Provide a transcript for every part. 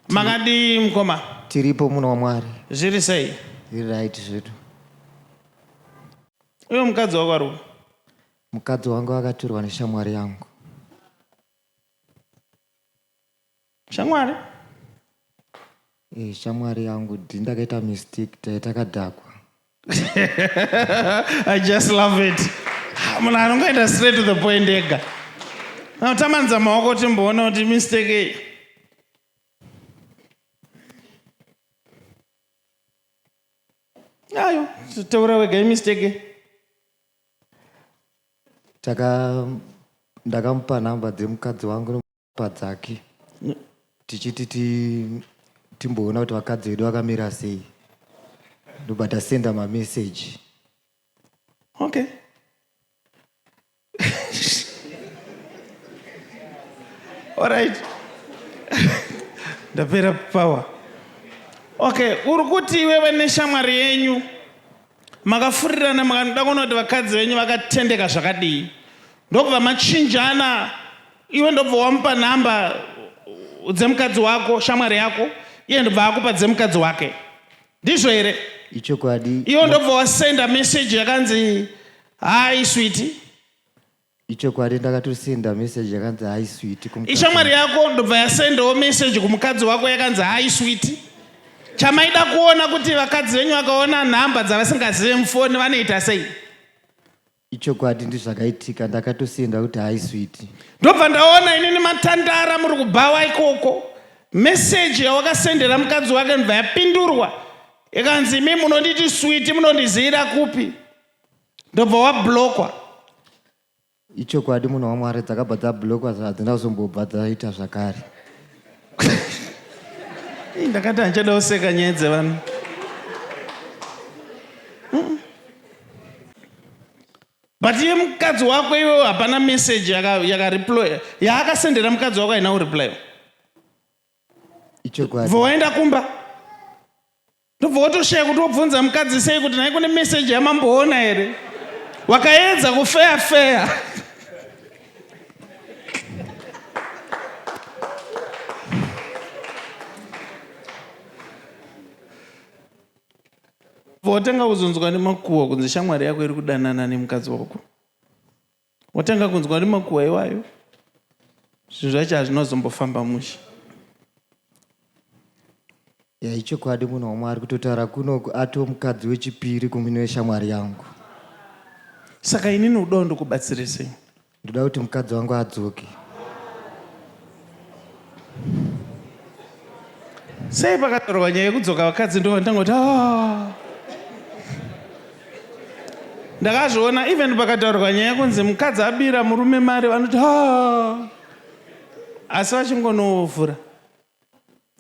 Makadii mkoma? Tiripo munhu waMwari. Zviri sei? Zviri right zvedu. Uyo mukadzi wako ari upi? Mukadzi wangu akatorwa neshamwari yangu. Shamwari? Eh, shamwari yangu ndakaita mistake taitakadhakwa. i just love it munhu anongoenda straight to the point ega anotambanidza maoko timboona kuti mistake iyi ayo taura wega imistake taka ndakamupa nhamba dzemukadzi wangu padzake tichiti ti timboona kuti vakadzi vedu vakamira sei ndobva tasenda mameseji okay alright ndapera power okay uri kuti iwewe neshamwari yenyu Makafurirana mukanoda kuona kuti vakadzi venyu vakatendeka zvakadii ndokubva machinjana iwe ndobva wamupa nhamba dzemukadzi wako shamwari yako iye ndobva akupa dzemukadzi wake ndizvo here ichokwadi iwe ndobva wasenda meseji yakanzi hai switi Ichokwadi ndakatosenda message yakanzi hi sweet kumukadzi. Ishamwari yako ndobva yasendawo message kumukadzi wako yakanzi hi sweet. Chamaida kuona kuti vakadzi venyu vakaona nhamba dzavasingazive mufoni vanoita sei. Ichokwadi ndizvakaitika ndakatosenda kuti hi sweet. Ndobva ndaona inini matandara muri kubhawa ikoko. Message yawakasendera mukadzi wake ndobva yapindurwa ikanzi imi munonditi sweet munondiziyira kupi. ndobva wablokwa ichokwadi munhu wamwari dzakabva dzablokwa hadzina kuzombobva dzaita zvakare ndakati handichada kuseka nyaya dzevanhu but iye mukadzi wako iwewo hapana message yakareploya yaakasendera mukadzi wako haina kureply ichokwadi bva waenda kumba Ndobva wotoshaya kuti wobvunza mukadzi sei kuti nhai kune meseji yamamboona here wakaedza kufeya feya votanga kuzonzwa nemakuhwa kunzi shamwari yako iri kudanana nemukadzi wako Watanga kunzwa nemakuhwa iwayo zvinhu zvacho hazvinozombofamba mushe ya ichokwadi munhu wamwari kutotaura kunoku ato mukadzi wechipiri kumhino yeshamwari yangu saka inini udawo ndokubatsirisei ndoda kuti mukadzi wangu adzoke sei pakataurwa nyaya yekudzoka vakadzi ndo vandangoti ah. ndakazviona even pakataurwa nyaya yekunzi mukadzi abira murume mari vanoti ah. asi vachingonovhura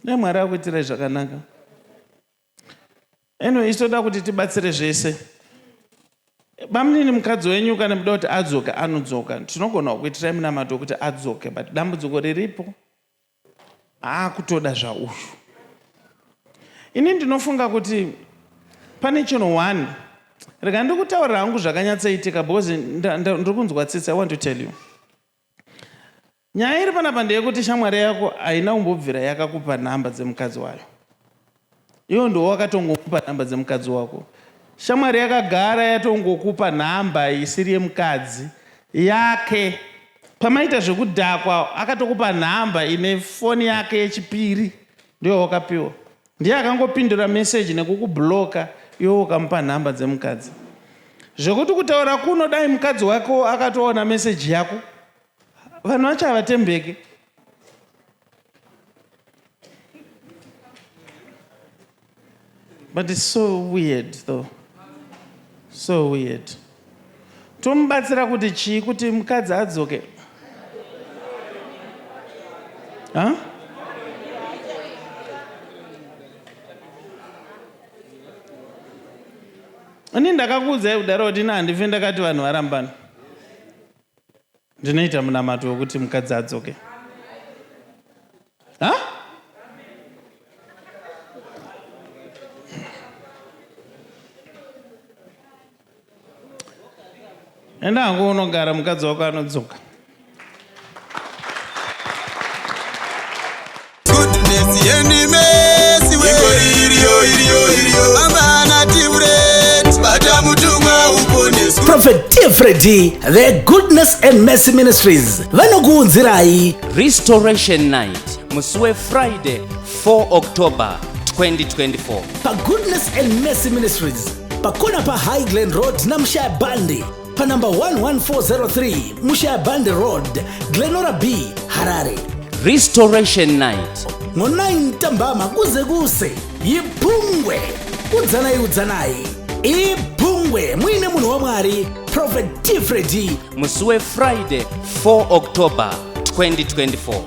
nemwari akuitirai zvakanaka Anyway, isu toda kuti tibatsire zvese. Bamunini mukadzi wenyu kana muda kuti adzoke anodzoka. Tinogona kukuitirai munamato wekuti adzoke but dambudziko riripo aakutoda zvauyu. Ini ndinofunga kuti pane chinhu one rega ndikutaurira hangu zvakanyatsoitika because ndiri kunzwa tsitsi I want to tell you. Nyaya iri panapa ndeyekuti shamwari yako haina kumbobvira yakakupa number dzemukadzi wayo. Iwe ndiwe wakatongomupa number dzemukadzi wako. Shamwari yakagara yatongokupa number isiri yemukadzi yake. Pamaita zvekudhakwa akatokupa number ine phone yake yechipiri ndiyo yawakapiwa. Ndiye akangopindura message nekukublocker iwe ukamupa number dzemukadzi. Zvekuti kutaura kuno dai mukadzi wako akatoona message yako Vanhu vacho havatembeke. But it's so weird though. So weird. Tomubatsira kuti chii kuti mukadzi adzoke. Huh? Ini ndakakuudzai kudaro kuti ina handife ndakati vanhu varambana. Ndinoita munamato wekuti mukadzi adzoke. Ha? Enda hangu unogara mukadzi wako anodzoka. prophet tfredi the goodness and mercy ministries vanokuunzirai restoration night musi wefriday 4 october 2024 pagoodness and mercy ministries pakona pahigh glen road namushaya bandi panumber 11403 mushaband road glenora b harare restoration night ngo-9 tambama kuze kuse yibhungwe udzanai udzanai ibhungwe muine munhu wamwari prophet tifredi musi wefriday 4 october 2024